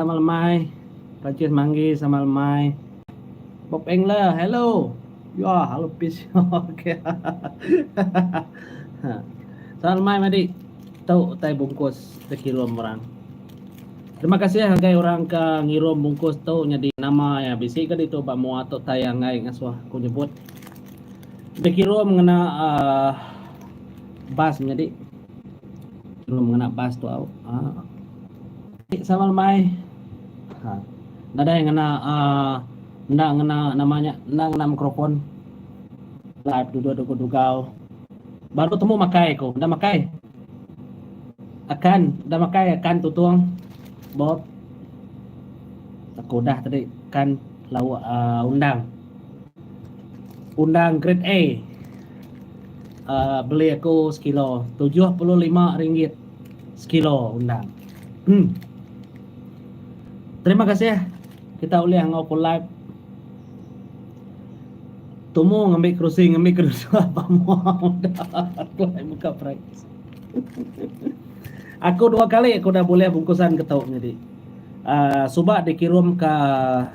Sama lemai, Perancis manggi sama lemai. Bob Engler, hello. Yuah, halo pis. Okey. Ha. Sama lemai madi. Tu utai bungkus dikirum orang. Terima kasih ngagai orang ke ngirum bungkus tu nyadi nama ya bisi ke ditu ba mua tu tai anggai ngasuh aku nyebut. Dikirum ngena uh, bas nyadi. Kirum ngena bas tu au. Uh. Ti sama lemai ha nadai ngena uh, enda ngena nama nya enda ngena mikrofon live duduk duduk dugau baru temu makai aku dah makai akan dah makai akan tutung bob aku dah tadi kan lawa uh, ah, undang undang grade A uh, beli aku sekilo 75 ringgit sekilo undang. Hmm. Terima kasih kita ulih ngau ku live. Tumu ngambil kerusi, ngambil kerusi apa mu. Aku lagi buka prank. aku dua kali aku dah boleh bungkusan ketuk ni di. Uh, suba dikirim ke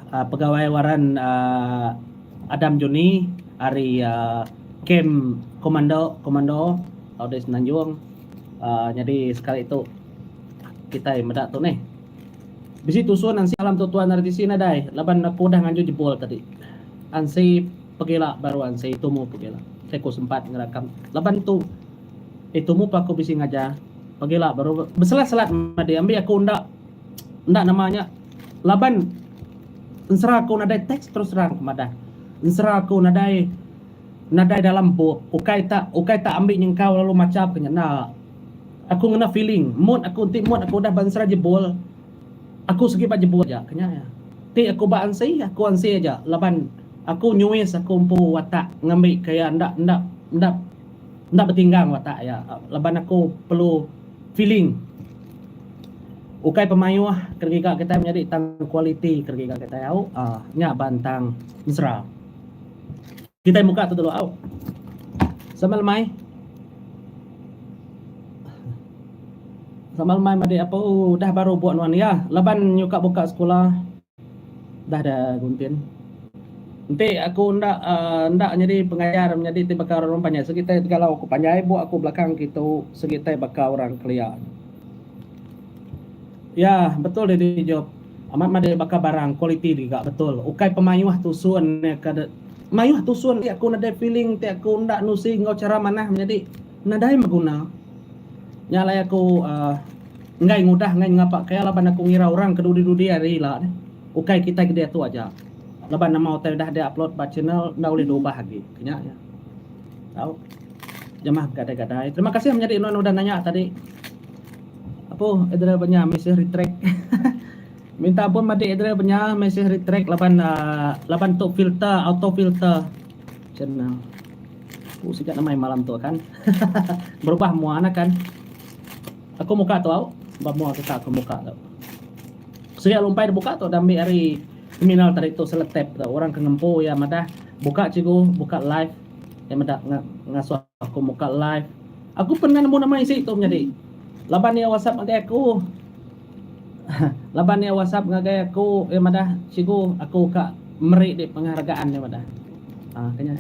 uh, pegawai waran uh, Adam Juni hari uh, kem komando komando Audes Nanjung uh, jadi sekali tu kita meda tu nih bisi tusun ansi alam tu tuan dari sini nadai laban aku dah nganju jebol tadi ansi pegila baru ansi itu mu pegila saya ku sempat ngerakam laban tu itu mu pa aku bisi ngajar pegila baru beselat-selat madi ambil aku ndak ndak namanya laban ensera aku nadai teks terus terang kemadah ensera aku nadai Nadai dalam empuk, ukai tak ukai tak ambi nyengkau lalu macha ke ngena. Aku ngena feeling, mood aku enti mood aku udah ba ensra jebul, aku sigi ba jebul aja, kenya iya. Ti aku ba ansi, aku ansi aja laban aku nyuis aku empu watak ngambi ke iya enda enda enda enda betinggang watak iya laban aku perlu feeling. Ukai pemayuh ke giga kitai menyadi tang kualiti ke giga kitai au. Nya ban tang mesra. Kitai muka tu dulu au. Sama lemai. Sama lemai madi apa oh, dah baru buat nuan ya. Laban nyuka buka sekolah. Dah ada guntin. Nanti aku ndak uh, ndak jadi pengajar menjadi ti bakal orang panjai. Segi tai galau aku panjai buat aku belakang kitu segi tai bakal orang kelia. Ya, betul dia job. Amat madah baka barang quality giga betul ukai pemayuh tusun nya ka deh mayuh tusun ti aku nadai feeling ti aku enda nusi enggau chara manah menyadi nadai beguna nya alai aku enggai ngudah enggai ngapa ke laban aku ngira orang ke dudi dudi hari ila deh ukai kitai kediatu aja laban nama utai udah dia upload ba channel enda ulih diubah agi ke nya aja tau jamah begadai gadai terima kasih menyadi enu udah nanya tadi. Apo Adriel Banya mesej retract. Minta ampun matik Adriel Banya mesej retract laban uh, laban tu filter auto filter. Cen uh, aku sida nama malam tu kan. Berubah mua nak kan. Aku muka tu au. Ba mua kita aku muka tu. Sida lumpai buka tu dah ambil hari terminal tadi tu seletep tu. Orang ke ngempu ya madah buka cikgu buka live ya madah ngasuh Aku muka live. Aku pernah nemu nama isi tu menyadi. Laban iya WhatsApp ngagai aku. Laban iya WhatsApp ngagai aku, iya madah, Cikgu, aku ka meri di penghargaan, iya madah. Ha, ke nya.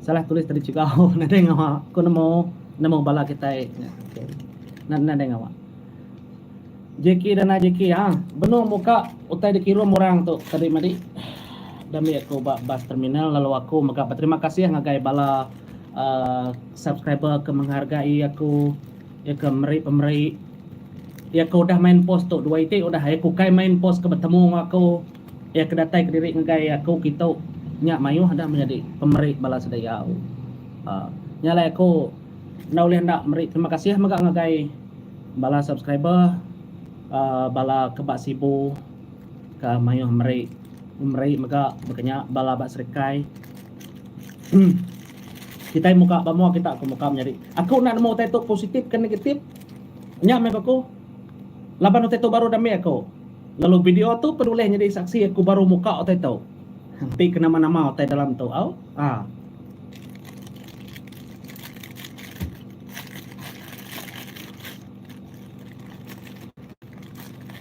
Salah tulis tadi cikgu nadai ngawa. Aku nemu nemu bala kitai. Nadai ngawa. Jackie dan ai Jackie ha benung muka utai dikirum orang tu tadi madi da mih aku ba bus terminal lalu aku mega beterima kasih ngagai bala uh, subscriber ke menghargai aku ya ke meri pemeri ya ke udah main post tu dua iti udah ya ke ukai main post ke betemu enggau aku ya ke datai kediri ngagai aku kitu nya mayuh dah menyadi pemeri bala sediau uh, nya alai aku Enda ulih enda meri terima kasih mega ngagai bala subscriber uh, bala ke ba Sibu ke mayuh meri meri mega baka nya bala ba Serikai. Hmm. Kita muka ba mua kita aku muka menyadi. Aku nak nemu utai tu positif ke negatif. Nya meh aku. Laban utai tu baru dami aku. Lalu video tu pun ulih nyadi saksi aku baru muka utai tu. Henti ke nama-nama utai dalam tu. Au. Ah.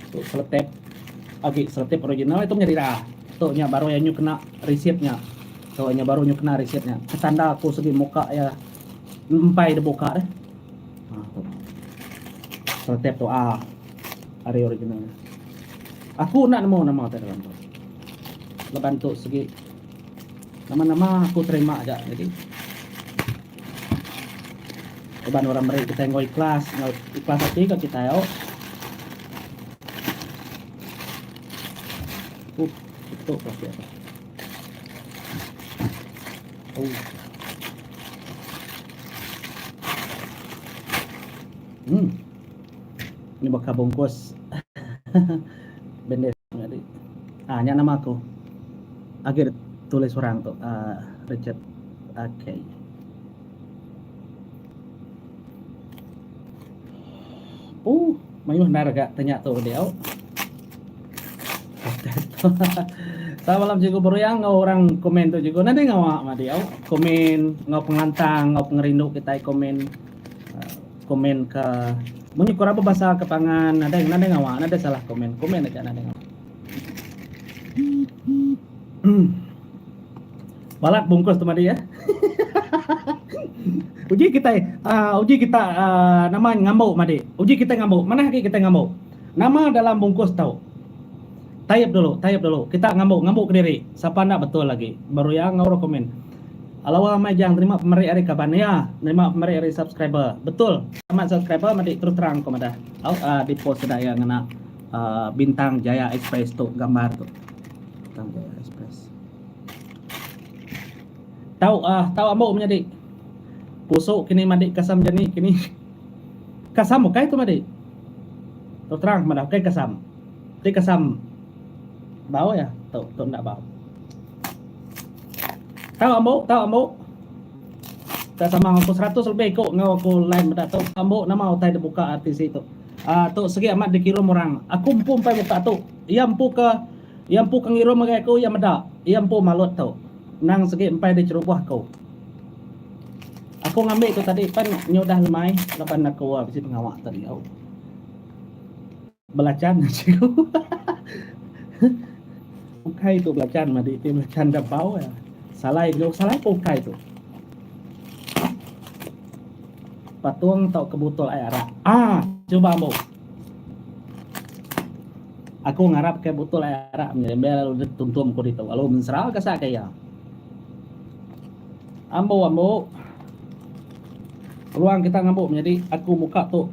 Untuk seletep agi seletep original itu menjadi dah. Untuk nya baru yang nyu kena receipt nya. So nya baru nyu kena receipt nya. Ketanda aku segi muka ya empai de buka deh. Ha tu. Seletep tu ah. Hari original. Aku nak nemu nama tu dalam tu. Leban tu segi Nama-nama aku terima aja nyadi. Uban orang meri kita enggau ikhlas, enggau ikhlas ati ka kita au. Uh, itu plastik. Oh. Hmm. Ni baka bungkus. Bendis ngadi. Ah nya nama aku. Agi tulis orang tu uh, Richard. Okay. Uh, mayuh ndar ga tanya tu dia. Selamat malam Cikgu Beruyang ngau orang komen tu Cikgu. Nanti ngau mak dia. Komen ngau pengantang, ngau pengerindu kita komen. Komen ka munyi korang bebasa ke pangan nadai nadai ngawa nadai salah komen komen aja nadai ngawa. Balat bungkus tu madi ya. uji kita uh, uji kita uh, nama ngambo madi. Uji kita ngambo. Mana lagi kita ngambo? Nama dalam bungkus tau. Tayap dulu, tayap dulu. Kita ngambo ngambo ke diri. Siapa nak betul lagi? Baru yang ngau komen. Alawa amai jang nerima pemeri ari kaban iya nerima pemeri ari subscriber betul amat subscriber madi terus terang ko madah aut a di post sida iya ngena bintang jaya express tu gambar tu bintang jaya express tau a tau ambo menyadi pusu kini madi kasam jani kini kasam ukai tu madi terus terang madah ukai kasam ti kasam bau ya tu tu nda bau Tau ambo, tau ambo. Enda sama enggau aku seratus lebih iku enggau aku line meda tu. Tau ambo nama utai da buka RTC tu. Uh, tu segi amat dikirum orang. Aku empu empai muka tu. Iya empu ke iya empu ke ngirum ngagai aku iya meda. Iya empu malut tu. Nang segi empai dicherubuh aku. Aku ngambi tu tadi pan nyudah lemai laban aku uh, bisi pengawa tadi. Oh. Belacan nya cikgu. ukai tu belacan madi ti belacan da bau ya. Salai nya salai pun ukai tu. Patung tau ke botol air arak. Ah, cuba ambo. Aku ngarap ke botol air arak ni embel lalu tuntum ko ditu. Lalu mensera ke sa kaya. Ambo ambo. Peluang kita ngambo menjadi aku muka tu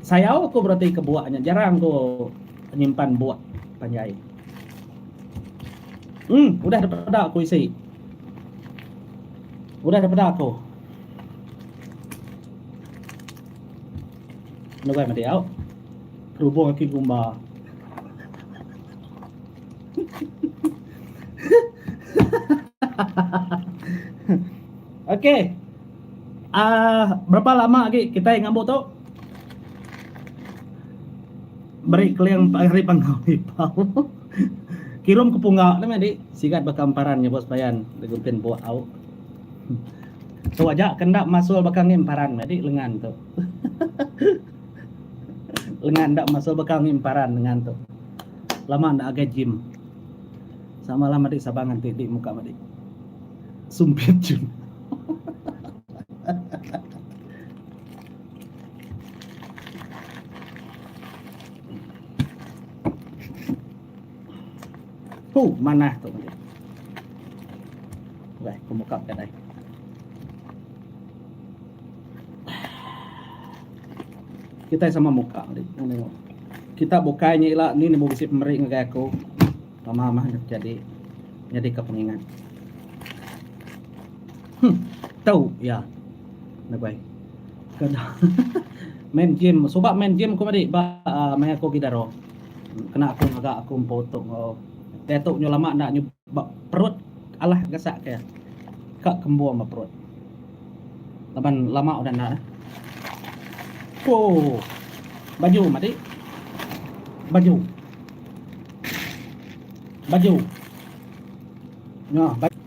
Sayau aku bereti ke buak nya jarang ku nyimpan buak panjai. Em udah depeda aku isi. Udah depeda aku. Nugai mati au. Kerubung aku gumba. Okey. Aah berapa lama agi kitai ngambu tu. Meri keling empat hari pangau lipau. Kirum ke pungga tu meh adi. Sigat baka emparan nya bos payan diguntin bua au. Tu aja ke enda masul baka ngi emparan meh adi lengan tu. lengan enda masul baka ngi emparan lengan tu. Lama enda agai gym. Samalam adi saban nganti di muka madi. Sumpit jun. Huh, manah tu. Wah, aku buka kedai. Kita sama muka. Kita bukannya ila ni ni mau bisi pemeri ngagai aku. Mama mah enda jadi nyadi ka pengingat. Huh, tau ya. Nabai. Kada. main game, suba main game ku madi ba uh, mai aku gidaro. Kena aku ngaga aku empu tu ngau. Dia tu nyu lama ndak nyu perut alah gasak ke. Ka kembu ma perut. Laban lama udah ndak. Oh. Baju madi. Baju. Baju. Nya baju.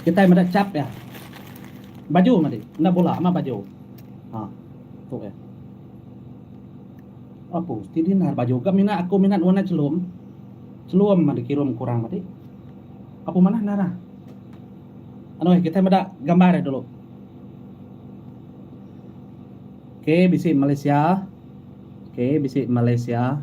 Kitai meda chap iya. Baju madi. Enda bula ama baju. Ha. Tu iya. Aku mesti dinar baju ga mina aku mina warna chelum. Chelum madi kirum kurang madi. Apu manah nara. Anu eh kitai meda gambar iya dulu. Okey bisi Malaysia. Okey bisi Malaysia.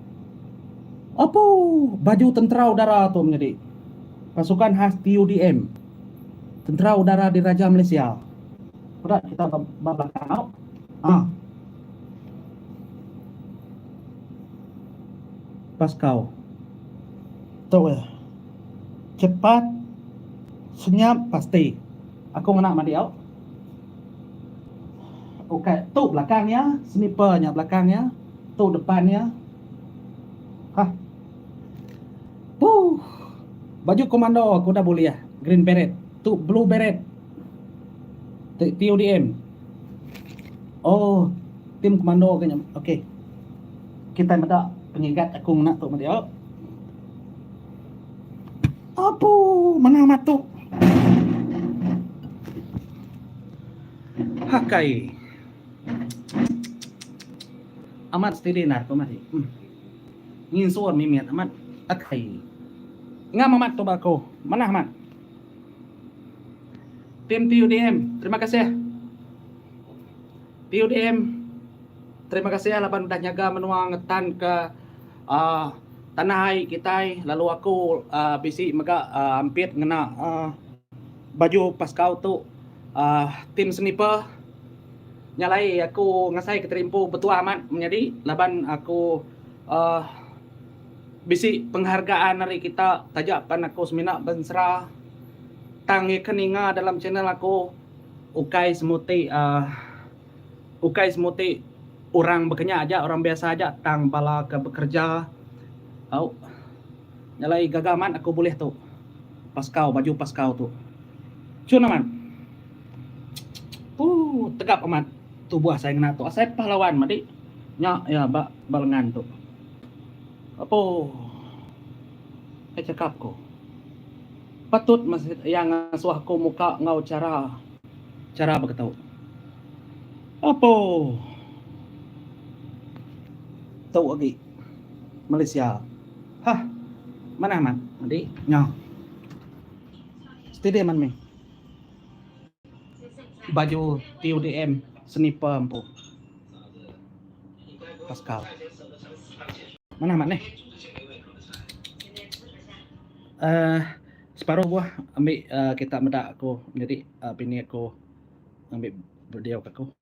Apu! Baju Tentera Udara tu menyadi pasukan khas TUDM, Tentera Udara Diraja Malaysia. Peda kita ba belakang tu. Ha. Paskau. Tu ya. Chepat, senyap, pasti. Aku ngena madi au. Ukai tu belakang iya, sniper nya belakang iya. Tu depan iya. Hah. Huh. Baju komando ke udah bulih. Green beret. Tu blue beret. Ti PUDM. Oh. Tim komando ke nya. Okey. Kitai meda pengigat aku ngena tu meh dia. Apu. Menang matu. Hakai. Amat steady endar tu mati. Nginsur mimit amat akai. Ngam amat tu ba ko. Manah amat. Tim TUDM terima kasih. TUDM terima kasih laban udah nyaga menua ngetan ke uh, tanah ai kitai lalu aku uh, bisi mega uh, ampit ngena uh, baju paskau tu uh, tim sniper Nya alai aku ngasai keterimpu betuah amat menyadi laban aku uhh bisi penghargaan ari kita taja pan aku semina bensera tang iya ke ninga dalam channel aku ukai semuti uhh ukai semuti orang bekenya aja orang biasa aja tang bala ke bekerja au nya alai gaga amat aku bulih tu paskau baju paskau tu. Chun amat. Ooh tegap amat tubuh asai ngena tu asai pahlawan madi nya iya ba ba lengan tu apo kai chakap ku patut meh iya ngasuh aku muka enggau chara chara begitu apo tu agi Malaysia hah manah amat madi nya steady amat mih. baju ti UDM sniper empu Pascal mana amat ni uh, separuh buah ambil uh, kita meda aku jadi uh, bini aku ambil video aku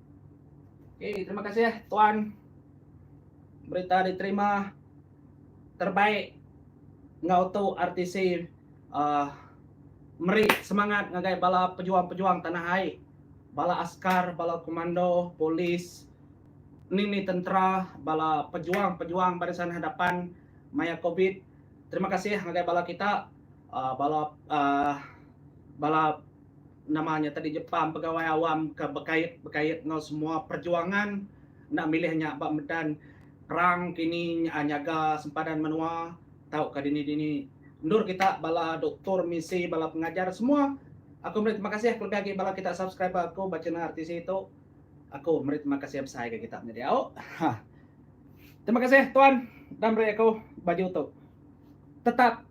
Okey, terima kasih tuan. Berita diterima terbaik enggau tu RTC uh, meri semangat ngagai bala pejuang-pejuang tanah ai. Bala askar, bala komando, polis, nini tentera, bala pejuang-pejuang barisan hadapan maya Covid. Terima kasih ngagai bala kita uh, bala uh, bala Nama nya tadi nyepam pegawai awam ke bekait bekait enggau semua perjuangan enda milih nya ba medan perang kini nya nyaga sempadan menua tauka dini dini. Endur kita bala doktor misi bala pengajar semua aku meri terima kasih kelebih agi bala kita subscriber aku ba channel RTC tu aku meri terima kasih besai ga kita menyadi au. Hah. Terima kasih tuan dah meri aku baju tu. Tetap.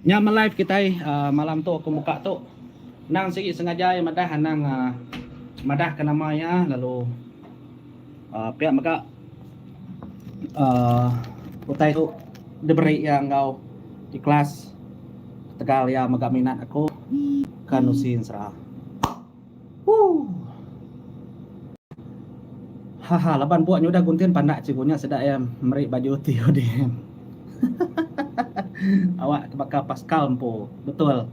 Nya meh live kitai uh, malam tu aku muka tu. Nang sigi sengaja iya madah anang uh, madah ke nama iya lalu uh, pia mega uh, utai tu diberi iya enggau ikhlas tegal iya mega minat aku kan usin sera. Huh. Haha laban buk nyudah guntin pandak cikgu nya sida iya meri baju ti udah awak ke baka Pascal empu betul.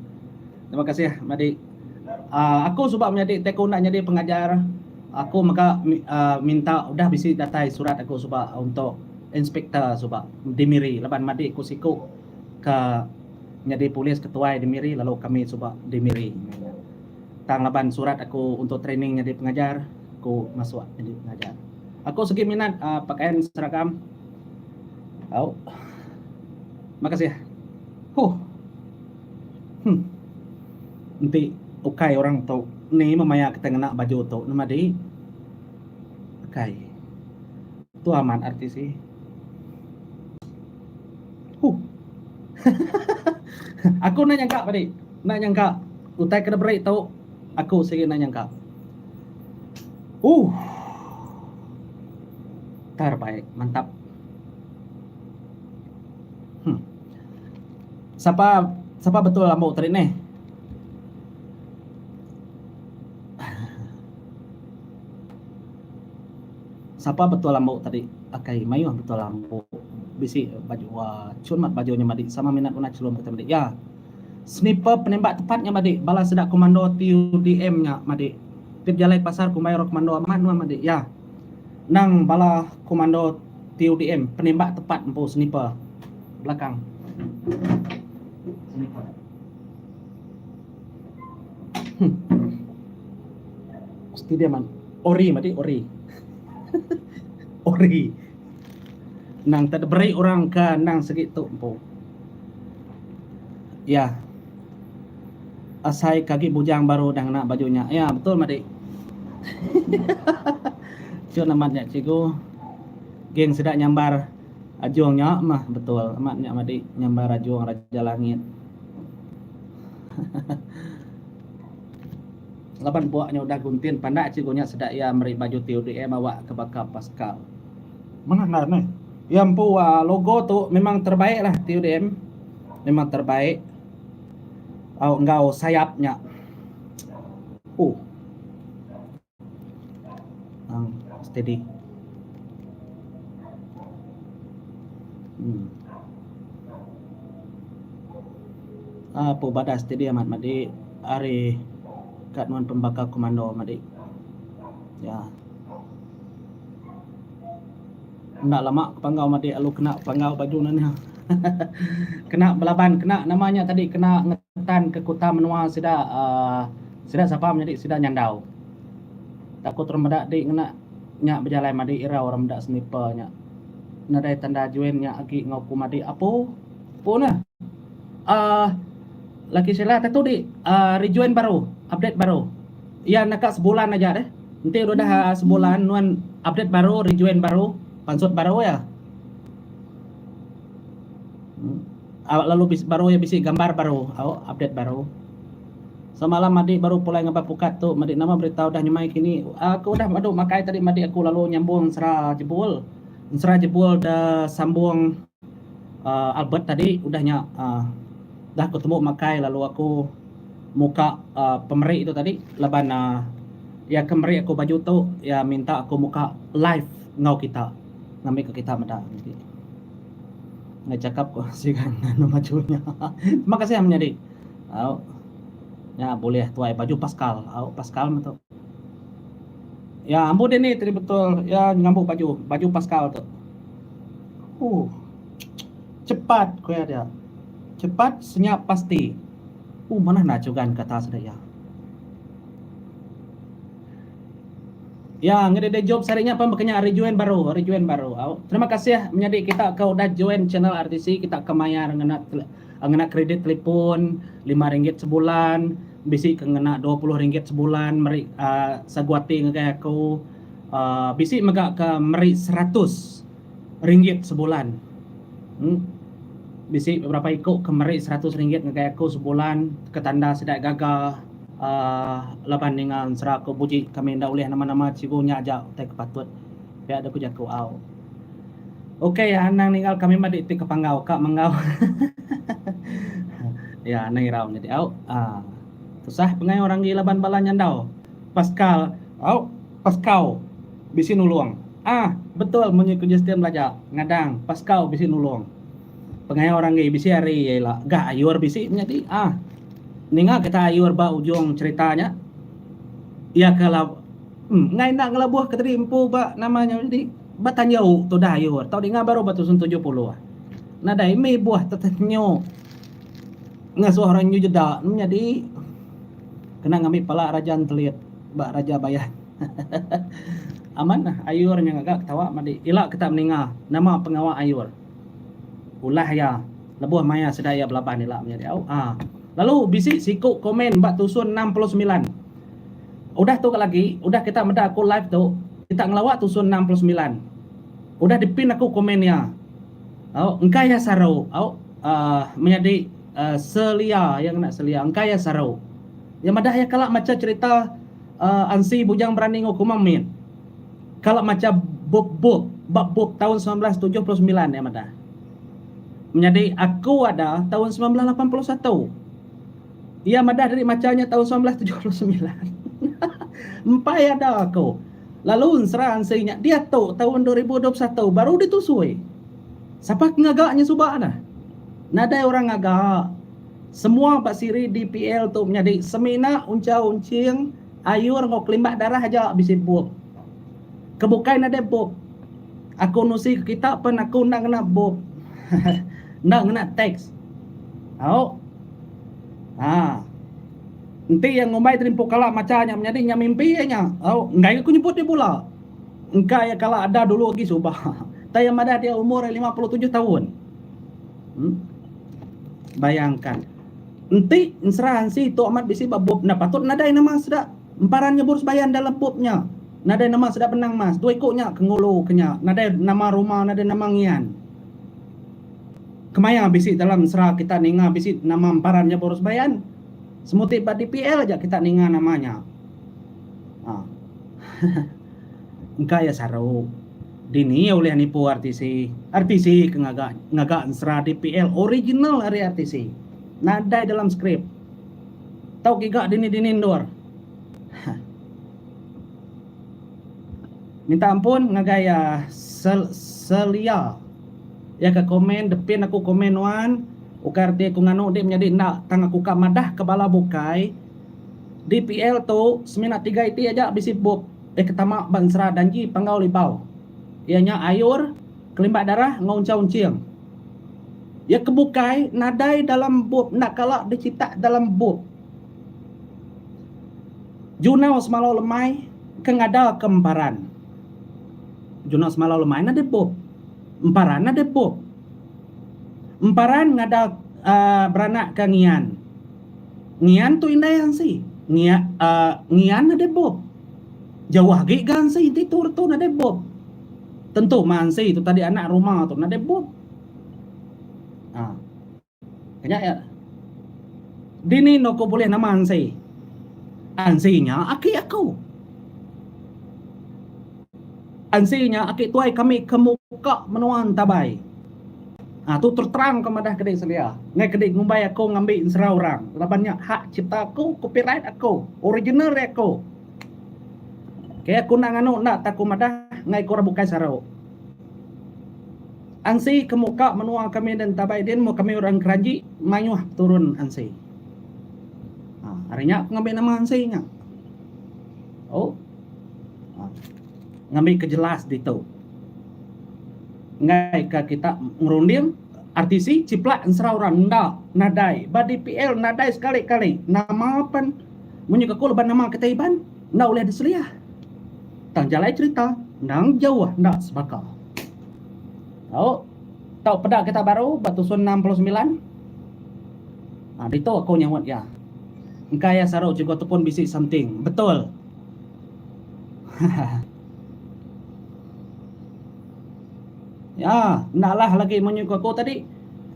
Terima kasih madi uhh aku suba menyadi ti aku enda nyadi pengajar aku mega minta udah bisi datai surat aku suba untuk inspektor suba di miri laban madi aku siku ke nyadi polis ketuai di miri lalu kami suba di miri. Tang laban surat aku untuk training nyadi pengajar, aku masuk nyadi pengajar. Aku segi minat pakayan seragam. Au. Makasih. Huh. Hmm. Enti ukai orang tu ni meh maya kita ngena baju tu nama di? Ukai. Tu amat artis ih. Huh. Aku enda nyangka padi. Enda nyangka. Utai ke diberi tu aku sigi enda nyangka. Ooh. Terbaik, mantap. Hmm. Sapa sapa betul ambo tadi neh? Sapa betul ambo tadi? Akai mayuh betul ambo. Bisi baju uh, cun mat baju nya madi sama minat guna chelum kita madi. Ya. Sniper penembak tepat nya madik bala sida komando TUDM nya madik ti bejalai ke pasar kumbai orang komando amat nuan madik ya nang bala komando TUDM penembak tepat empu sniper belakang sniper Mesti dia man ori madik ori ori nang tak diberi orang ke nang segi tu empu Ya. Asai kagi bujang baru udah ngena baju nya. Ya, betul madi. Chun amat nya cikgu. Geng sida nyambar ajung nya mah betul. Amat nya madi nyambar ajung raja langit. Laban bua nya udah guntin pandak cikgu nya sida iya meri baju TUDM awakka baka Pascal. Mengah ngaran eh. Iya empu logo tu memang terbaik lah ti udm memang terbaik au enggau sayap nya uh nang steady um um pu badah steady amat madi ari ka nuan pembakal komando madi ya. Enda lama ke panggau matik lalu kena panggau baju nya nya. kena belaban kena nama nya tadi kena ngetan ke kuta menua sida uh, sida sapa menyadi sida nyandau. Tak ku terang meda di ngena nya bejalai madi irau orang meda sniper nya. Nadai tanda join nya agi enggau ku madi apu. Apu nah. Uh, Lucky Sheila tentu di uh, rejoin baru, update baru. Iya naka sebulan aja deh. Enti udah sebulan nuan update baru, rejoin baru, pansut baru iya. Lalu baru iya bisi gambar baru, au update baru. Semalam Adi baru pulai ngaba pukat tu, madi nama berita udah nyemai kini. Aku udah madu makai tadi madi aku lalu nyambung Ensera Jebul. Ensera Jebul da sambung. Uh, Albert tadi udah nya uh, dah ku tembu makai lalu aku muka uh, pemeri tu tadi laban uh, iya ke meri aku baju tu iya minta aku muka live ngau kita ngambi ke kita meda nanti ngai cakap ko sigan anu maju nya terima kasih menyadi au nya boleh tuai baju pascal au pascal metu Ya ambo deh ni tadi betul ya ngambo baju baju pascal tu. Huh. Cepat ku ya dia. Cepat senyap pasti. Uh manah na chugan kata sida ya. Ya ngeri deh job sari nya pun bekenya ari join baru ari join baru. Terima kasih menyadi kita ke udah join channel RTC kita ke mayar ngena Ngena kredit telefon lima ringgit sebulan, bisi ke ngena dua puluh ringgit sebulan meri sagu ati ngagai aku. Bisi mega ke meri seratus ringgit sebulan. Bisi beberapa iku ke meri seratus ringgit ngagai aku sebulan ke tanda sida gaga laban ninga ensera aku. Buji kami enda ulih nama-nama cikgu nya aja utai ke patut. Pia deh ku jaku au. Ukai iya anang ninggal kami mah diiti ke panggau ka menggau. iya anang irau nyadi au. Ah. Tusah pengayo orang gi laban bala nyandau. Paskal au paskau bisi nulung. Ah betul munyi ku Justin belaja ngadang paskau bisi nulung. Pengayo orang gi bisi ari iya ila ga ayur bisi menyadi. Ah. Ninga kita ayur ba ujung cherita nya iya ke la. Enggau enda ngelabuh ke tadi empu ba nama nyau nyadi ba tanja u tu dah ayu tau dinga baru ba tusun tujuh puluh. Nadai mih buah tetenyu ngasuh orang nyu jeda nemu nyadi kena ngambi pala raja entelit ba raja bayan. Amat nah ayur nya ngaga ketawa madi ila kita meninga nama pengawa ayur. Ulah iya lebuh maya sida iya belaban ila menyadi au a. Lalu bisi siku komen ba tusun enam puluh semilan. Udah tu ka lagi, udah kita meda aku live tu, kita ngelawa tusun enam puluh semilan. Udah dipin aku komen iya. Au, engka iya saru. Au, uh, menyadi uh, selia, iya ngena selia. Engka iya saru. Iya madah iya kala macha cerita uh, Ansi Bujang Berani Ngo Kumang Mit. Kala macha bup-bup, bab bup tahun 1979 iya madah. Menyadi aku ada tahun 1981. Iya madah diri macha nya taun semilan belas tujuh puluh semilan. Empai ada ko. Lalu ensera ensi nya diatu taun dua ribu dua puluh satu baru ditusui. Sapa ke ngaga nya suba dah. Nadai orang ngaga. Semua ba siri DPL tu menyadi semina unchau unching ayur enggau kelimbah darah aja bisi bup. Ke bukai nadai bup. Aku nusi ke kita pen aku enda ngena bup. Enda ngena tax. Au. Haa. Enti iya ngumbai tadi empu kala macha nya menyadi nya mimpi iya nya. Au, enggai ga ku nyebut iya bula. Engka iya kala ada dulu agi suba. Tang iya madah dia umur iya lima puluh tujuh taun. Em. Bayangka. Enti ensera ensi tu amat bisi ba bup nya patut nadai nama sida emparan nyebur sembahyang dalam bup nya. Nadai nama sida benang mas. Dua iku nya ke ngulu ke nya. Nadai nama rumah, nadai nama ngian. Kemaya bisi dalam sera kita ninga bisi nama emparan nya baru sebayan. Semuti ba dpl aja kita ninga nama nya. Aaa. Engka iya saru. Dini iya ulih nipu RTC. RTC ke ngaga ngaga ensera dpl original ari RTC. Nadai dalam skrip. Tau giga dini-dini endur. Hah. Minta ampun ngagai iya Sel Selia. Iya ka komen, Depin aku komen nuan, ukai reti aku nganu dih menyadi enda tang aku ka madah ke bala bukai dpl tu semina tiga iti aja bisi bup eh ke tama ba ensera Danji Panggau Libau iya nya Ayur, Kelimbat Darah enggau Unchau Unching. Iya ke bukai nadai dalam bup enda kala dichitak dalam bup. Junau semalau lemai ke ngada ke embaran. Juno semalau lemai nadai bup. Emparan nadai bup. Emparan ngadah uhh beranak ka ngian. Ngian tu indai ansi. Ngia uhh ngian nadai bup. Jauh agi ga ansi enti tu retu nadai bup. Tentu mah ansi tu tadi anak rumah tu nadai bup. Uhh. Nya iya. Dini enda ku bulih nama Ansi. Ansi nya aki aku. Ansi nya aki tuai kami ke muka menua entabai. Ha, tu terterang ke madah kedi selia. Ngai kedi ngumbai aku ngambi ensera orang. Laban nya hak cipta aku, copyright aku, original ari aku. Okay, aku enda nganu enda tak aku madah ngai ku orang bukai saru. Ansi ke muka menua kami da entabai din meh kami orang Keranji mayuh peturun ansi. Haa ari nya pengambi nama ansi nya. Au haa ngambi ke jelas ditu enggai ka kita ngerunding RTC chiplak ensera orang enda nadai ba dpl nadai sekali kali nama pen munyi ke aku leban nama kitai Iban enda ulih diseliah. Tang jalai cerita endang jauh enda sebaka. Tau tau peda Kitab Baru ba tusun enam puluh semilan. Ha, ditu aku nyaunt iya. Engka iya saru Cikgu Tepun bisi something. Betul. ya, enda lah lagi munyi ku aku tadi.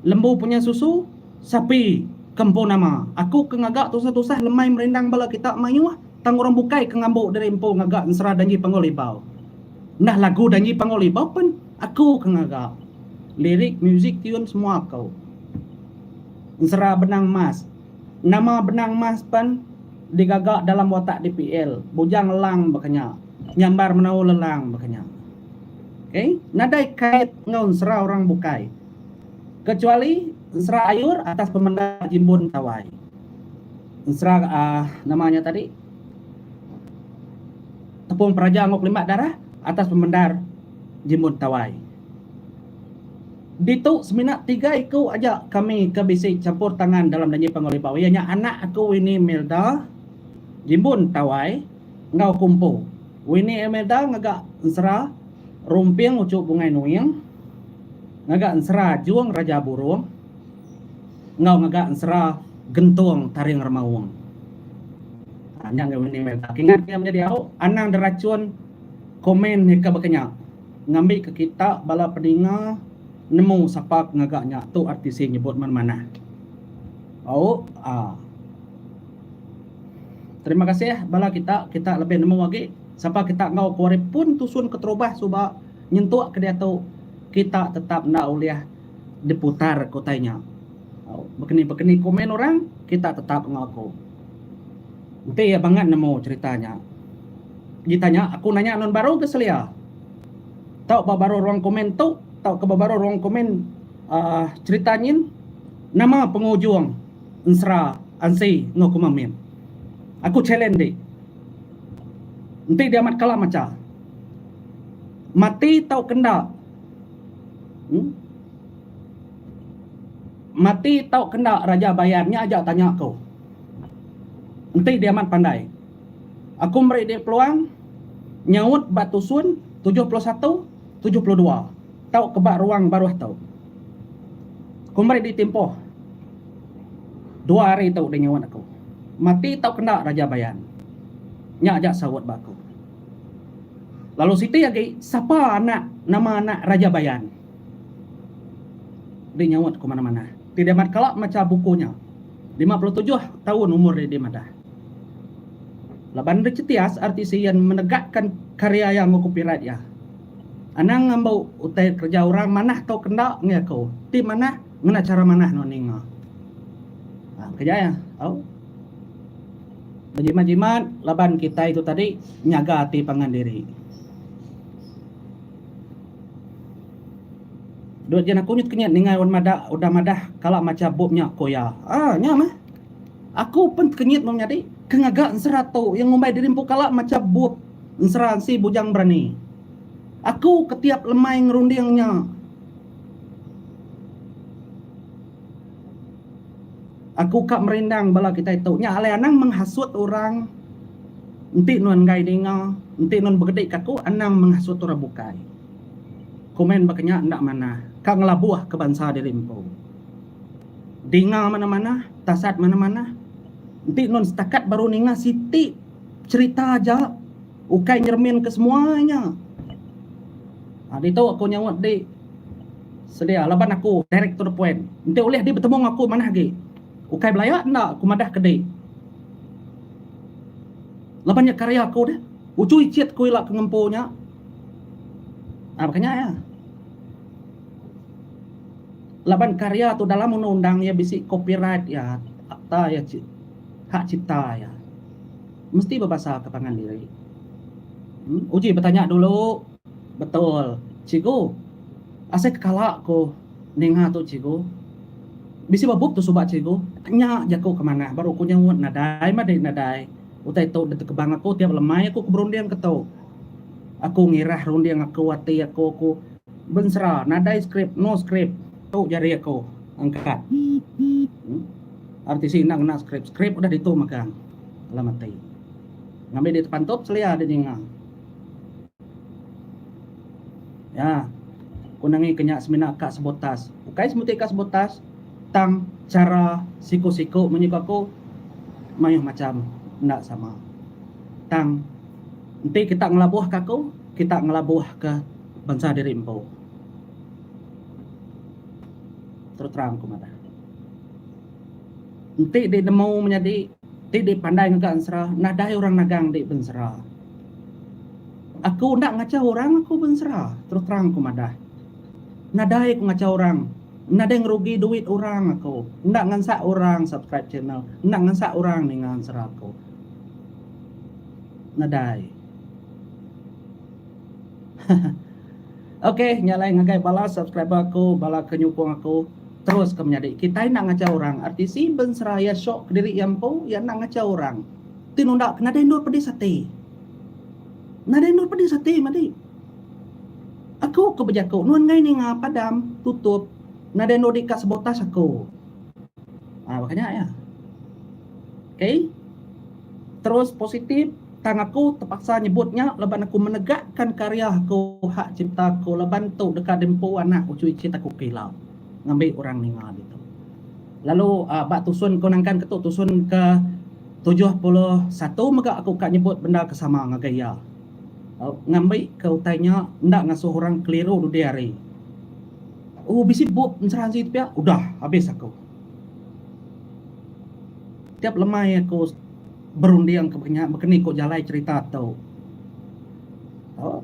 Lembu punya susu, sapi ke empu nama. Aku ke ngaga tusah-tusah lemai merindang bala kita mayuh. Tang orang bukai ke ngambu diri empu ngaga ensera Dangi Panggul Ibau. Nah lagu Dangi Panggul Ibau pen aku ke ngaga. Lirik, muzik, tune semua aku. Ensera Benang Mas. Nama Benang Mas pen digaga dalam watak DPL, Bujang Lelang baka nya. Nyambar menau lelang baka nya. Okay. Nadai kait enggau ensera orang bukai. Kecuali ensera ayur atas pemendar Jimbun Tawai. Ensera uh, nama nya tadi? Tepung peraja enggau kelimat darah atas pemendar Jimun Tawai. Ditu semina tiga iku aja kami ke bisi campur tangan dalam nyanyi pangulibau iya nya anak aku Winnie Melda, Jimun Tawai enggau Kumpo. Winnie Imelda ngaga ensera Rumping Uchu Bungai Nuing, ngaga ensera Jung Raja Burung, enggau mega ensera gentung taring remaung. Ha, nya ngagai meni mega. Kingat ke menjadi au, anang derachun komen ni ke baka nya. Ngambi ke kita bala peninga nemu sapa ke ngaga nya tu RTC nyebut men manah. Au, a. Terima kasih bala kita, kita lebih nemu agi sapa kita enggau kuari pun tusun keterubah suba nyentuk ke diatu kita tetap enda ulih diputar ke utai nya. Bekeni-bekeni komen orang, kita tetap enggau aku. Enti iya bangat nemu cerita nya, di tanya aku nanya nun baru ke selia. Tau ba baruh ruang komen tu tauka ba baruh ruang komen aaa cerita nyin nama pengujung ensera ansi enggau kuma min. Aku challenge dik. Enti diamat kala macha. Mati tauka enda. Mati tau ke enda Raja Bayan nya aja tanya aku. Enti dia amat pandai. Aku meri dia peluang nyaut ba tusun tujuh puluh satu, tujuh puluh dua tau ke ba ruang baruh tu. Aku meri dia timpuh dua hari tu dia nyaut aku. Mati tau ke enda Raja Bayan. Nya aja saut ba aku. Lalu siti agi sapa anak nama anak Raja Bayan. Deh nyaut ku mana-mana. Ti dia mat kala macha buku nya. Lima puluh tujuh taun umur dia deh madah. Laban Richetias RTC Yen menegakkan karya iya enggau copyright iya. Anang ngambau utai kereja orang manah tau ke enda ngi aku. Ti manah ngena chara manah nuan ninga. Keja iya. Au. Bejimat-jimat laban kitai tu tadi nyaga ati pangan diri. Dut jen aku nyut kenyit ninga wan mada udah madah kala macha bup nya ko iya. Aa nya meh. Aku pen tekenyit meh menyadi ke ngaga ensera tu iya ngumbai diri empu kala macha bup ensera ensi bujang berani. Aku ke tiap lemai ngerunding nya. Aku ka merindang bala kitai tu. Nya alai anang menghasut orang. Enti nuan enggai ninga, enti nuan begedi ka aku, anang menghasut orang bukai. Komen baka nya enda manah. Ka ngelabuh ke bansa diri empu. Dinga manah-manah, tasat manah-manah. Enti nuan setakat baru ninga siti cherita aja. Ukai nyeremin ke semua inya. Ha, ditu aku nyaut di sedia laban aku direct to the point. Enti ulih di betemu enggau aku manah agi. Ukai belaya enda aku madah ke di. Laban nya karya aku deh. Uchui chit ku ila ke ngempu nya. Ha, baka nya ya. Laban karya tu dalam undang-undang iya bisi copyright iya, akta iya, hak cipta iya. Mesti bebasaka pangan diri. Uji betanya dulu. Betul, cikgu. Asai kekala aku ninga tu cikgu. Bisi ba bup tu suba cikgu. Nya jaku ke manah baru aku nyaunt nadai madi nadai. Utai tu ditekebang aku tiap lemai aku ke berunding ke tu. Aku ngirah runding aku ati aku aku bensera nadai skrip no skrip. Tu jari aku angkat. RTC enda ngena skrip. Skrip udah ditu megang. Alam ati. Ngambi di tepantup selia di ninga. Ya. Ku nengi ke nya semina ka sebut tas. Ukai semuti ka sebut tas tang chara siku-siku munyi ku aku mayuh macham enda sama. Tang enti kita ngelabuh ka aku, kita ngelabuh ka bansa diri empu. Terus terang ku madah. Enti di nemu menyadi ti di pandai ngaga ensera nadai orang nagang di bensera. Aku enda ngachau orang aku bensera terus terang aku madah. Nadai aku ngachau orang nadai ngerugi duit orang aku enda ngansak orang subscribe channel enda ngansak orang ninga ensera aku. Nadai. Ok nya alai ngagai bala subscriber aku bala ke nyukung aku terus ke menyadi kitai enda ngachau orang artisi ben seraya syok kediri iya empu iya enda ngachau orang ti nunda ke nadai endur pedis ati nadai endur pedis ati madi aku ke bejaku nuan enggai ninga padam tutup nadai endur di ka sabotas aku ha baka nya iya ok terus positif. Tang aku tepaksa nyebut nya laban aku menegakkan karya aku hak cipta aku laban tu deka diempu anak uchu ichit aku ke ila ngambi orang ninga ditu. Lalu ba tusun ku nangkan ketu tusun ke tujuh puluh satu mega aku ka nyebut benda ke sama ngagai iya ngambi ke utai nya enda ngasuh orang keliru dudi hari. Oh bisi bup ensera enti pia udah habis aku. Tiap lemai aku. Berunding ke nya bekeni ko jalai cerita tu.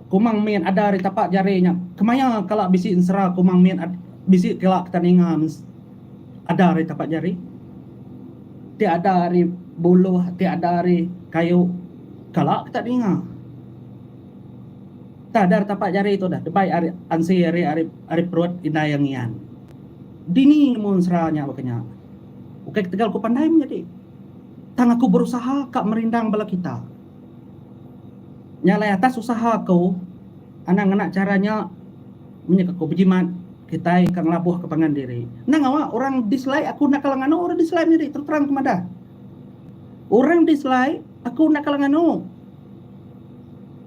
Kumang mit ada ari tapak jari nya kemaya kala bisi ensera kumang mit bisi kala kita ninga ada ari tapak jari ti ada ari buluh ti ada ari kayu kala kita ninga tang ada ari tapak jari tu dah debai ari ansi ari perut indai iya ngian dini nemu ensera nya baka nya ukai ketegal ku pandai menyadi. Tang aku berusaha ka merindang bala kita. Nya alai atas usaha aku, anang ngena chara nya menyek aku bejimat kitai ka ngelabuh ke pangan diri. Endang awa orang dislike aku enda kala nganu orang dislike nya ri terus terang aku madah. Orang dislike aku enda kala nganu.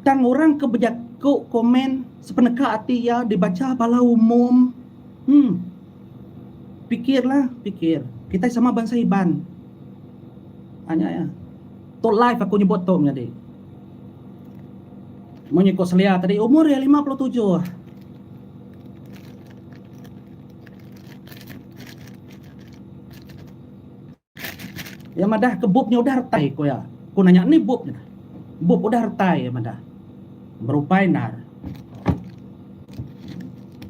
Tang orang ke bejaku komen sepeneka ati iya dibacha bala umum. Hum. Pikir lah, pikir. Kitai sama bansa Iban. Ha nya iya. Tu live aku nyebut tu menyadi. Munyi ku selia tadi umur iya lima puluh tujuh. Iya madah ke bup nya udah retai ku iya. Ku nanya ni bup nya. Bup udah retai iya madah. Berupai endar.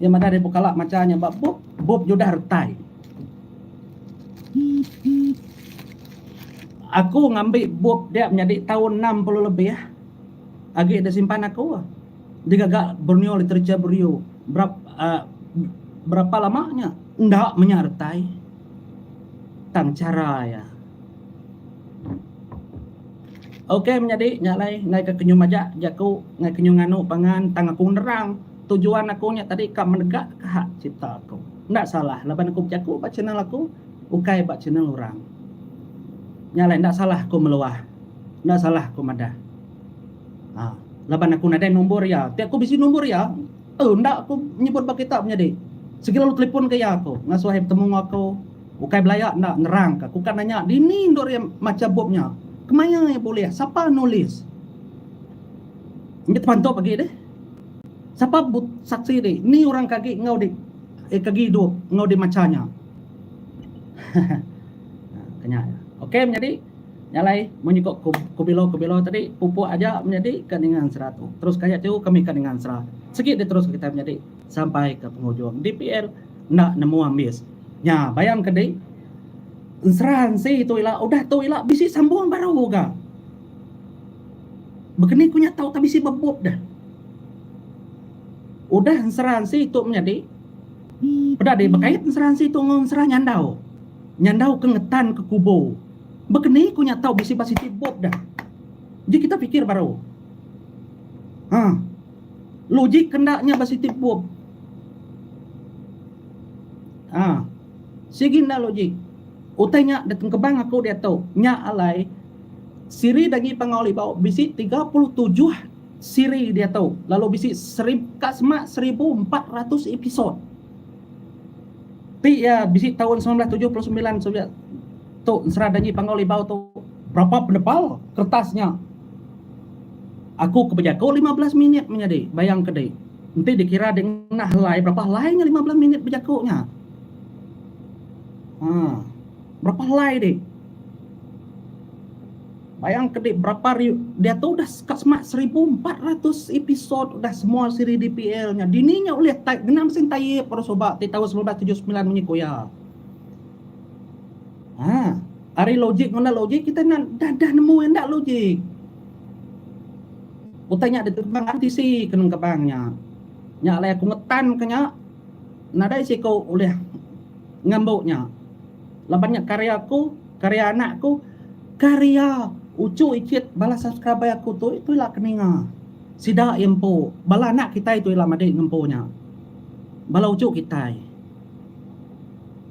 Iya madah daripada kala macha nya ba bup, bup nya udah retai. Aku ngambi bup dia menyadi taun enam puluh lebih agi disimpan aku digaga Borneo Literature Bureau berap uh, berapa lama nya enda menya retai tang chara iya. Ok menyadi nya alai enggai ka kenyuh maja jaku enggai kenyuh nganu pangan tang aku nerang tujuan aku nya tadi ka menegak ka hak cipta aku enda salah laban aku bejaku ba channel aku ukai ba channel orang nya alai enda salah aku meluah enda salah aku madah aa laban aku nadai nombor iya tapi aku bisi nombor iya. Tu enda aku nyebut ba kita menyadi. Sigi lalu telipon ke iya aku ngasuh iya betemu enggau aku. Ukai belaya enda nerang ka. Ku ka nanya dini endur iya macha bup nya. Kemaya iya bulih. Sapa nulis. Nya tepantup agi deh. Sapa saksi di. Ni orang ke agi enggau di ke agi idup enggau di macha nya. Ke nya. Okey menyadi. Nya alai mun nyuka kubilo-kubilo tadi pupuk aja menyadi ka ninga ensera tu. Terus ka nya tiu kami ka ninga ensera. Sigi diterus ka kitai menyadi sampai ka pengujung. DPL enda nemu ambis. Nya bayang ke dih ensera ensi tu ila udah tu ila bisi sambung baru ga. Begeni ku nya tau ka bisi bebup deh. Udah ensera ensi tu menyadi peda dih bekait ensera ensi tu enggau ensera nyandau. Nyandau ke ngetan ke kubo. Bekeni ku nya tau bisi ba siti bop dah. Ji kita pikir baru. Ha. Logik ke enda nya ba siti bop. Ha. Sigi enda logik. Utai nya ditengkebang aku diatu. Nya alai siri dagi Pangau Libau bisi tiga puluh tujuh siri diatu lalu bisi seri ka semak seribu empat ratus episod. Ti iya, bisi taun semilan belas tujuh puluh semilan Soviet tu ensera danji Panggau Libau tu. Berapa penebal kertas nya? Aku ke bejaku lima belas minit menyadi. Bayang ke dih. Enti dikira dih ngenah helai, berapa helai nya lima belas minit bejaku nya? Haa. Berapa helai dih. Bayang ke dek berapa hari diatu udah ka semak seribu empat ratus episode udah semua siri dpl nya dini nya ulih type ngena mesin type baru suba ti taun semilan belas tujuh semilan munyi ku iya. Ha ari logik ngundah logik kita enda dah dah nemu enda logik. Utai nya diterbang RTC ke nengkebang nya. Nya alai aku ngetan ke nya nadai siku ulih ngambu nya. Laban nya karya aku, karya anak aku, karya uchu ichit bala subscriber aku tu tu ila ke ninga. Sida iya empu. Bala anak kitai tu ila madi ngempu nya. Bala uchu kitai.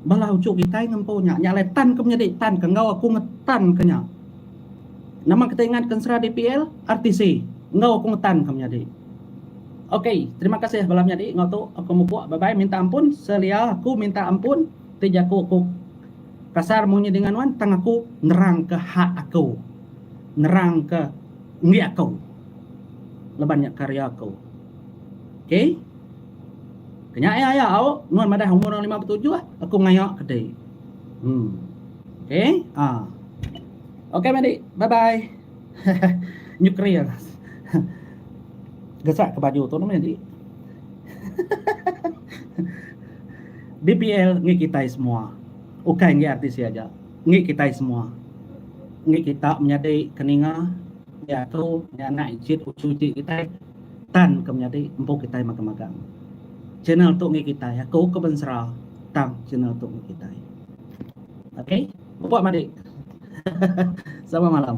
Bala uchu kitai ngempu nya. Nya alai tan ke menyadi tan ke enggau aku ngetan ke nya. Nama kitai ngat ke ensera DPL, RTC enggau aku ngetan ke menyadi. Ok, terima kasih bala menyadi enggau tu aku mupuk. Bye bye, minta ampun selia aku minta ampun. Ti jaku ku kasar munyi dinga nuan tang aku nerang ke hak aku nerang ke enggi aku leban nya karya aku ok kenya ia ia au nuan madah umur nuan lima betujuh aku ngaya ke di hmm ok ah ok madi bye bye. Nuklear. Gesak ke baju tu nama nyadi. BPL ngi kitai semua. Ukai ngi RTC aja. Ngi kitai semua. Ngi kita menyadi ke ninga diatu ngi anak icit uchu icit kitai tan ke menyadi empu kitai magang magang. Channel tu ngi kitai. Aku ke bensera tang channel tu ngi kitai. Okay. Upa madik. Sama malam.